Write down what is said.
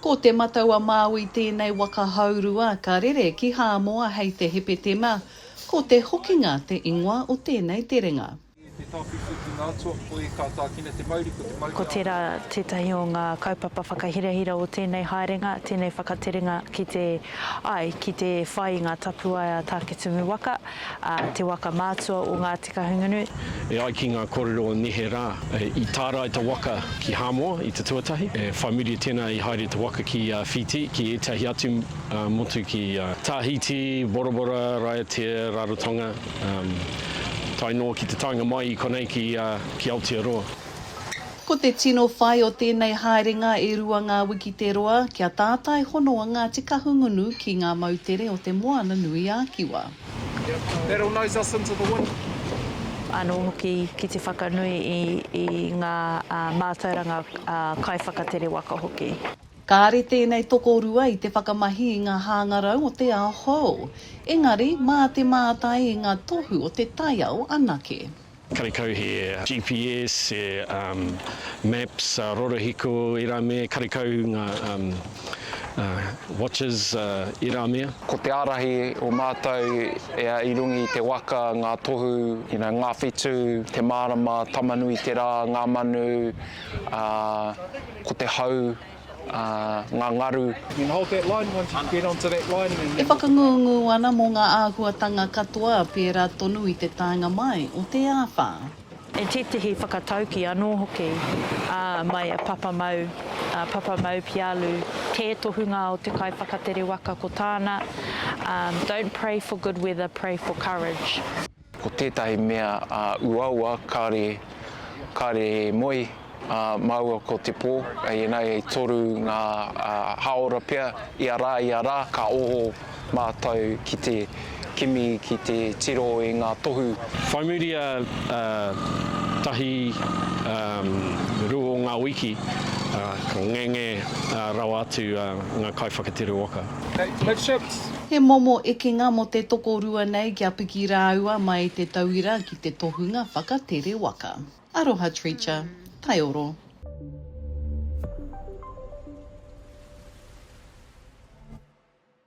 Ko Te Matau-a-Māui tēnei waka haurua ka rere ki Hāmoa hei te Hepetema, ko Te Hokinga te ingoa o tēnei terenga. I te tawhiti ki ngā atua koi ka tākina te mauri ko te mauri a. Ko tērā tētahi o ngā kaupapa whakahirahira o tēnei haerenga, tēnei whakaterenga ki te, ai, ki te whai i ngā tapuwae a Tāketumu waka, ā, te waka mātua o ngā. Te Kahungunu. E ai ki ngā kōrero o neherā, i tārai te waka ki Hāmoa i te tuatahi. E whai muri tēnā i haere te waka ki Whītī, ki ētahi atu motu ki Tāhītī, Borabora, Raiatea, Rarotonga, tae noa ki te taenga mai i konei ki Aotearoa. Ko te tino whai o tēnei haerenga e rua ngā wiki te roa, kia tātai hono a Ngāti Kahungunu ki ngā moutere o te Moana-nui-a-Kiwa. That'll nose us into the wind. Anō hoki ki te whakanui i ngā mātauranga kaiwhakatere waka hoki. Kāre tēnei tokorua i te whakamahi i ngā hāngarau o te ao hou, engari mā te mātai i ngā tohu o te taiao anake. Karekau he GPS, he maps, rorohiko, ērā mea, karekau ngā watches, ērā mea. Ko te ārahi o mātou i runga i te waka, ngā tohu, ngā whetū, te mārama, Tamanui te rā, ngā manu, ko te hau. ngā ngaru. E whakangungu ana mō ngā āhuatanga katoa pērā tonu i te taenga mai o te āwhā. E tētehi whakatauki anō hoki, ā, mai a Papamau, a Papamau Pialu, tē tohunga o te kaiwhakatere waka ko tāna, Don't pray for good weather, pray for courage. Ko tētahi mea uaua kāre, kāre e moe māua ko te pō, ēnei e toru ngā hāora pea, ia rā, ia rā, ka oho mātou ki te kimi, ki te tiro i ngā tohu. Whai muri a tahi, rua o ngā wiki, ka ngenge rawa atu ngā kaiwhakatere waka. He momo ekenga mō te tokorua nei kia piki rāua mai i te tauira ki te tohunga whakatere waka. Aroha Treacher, Taioro.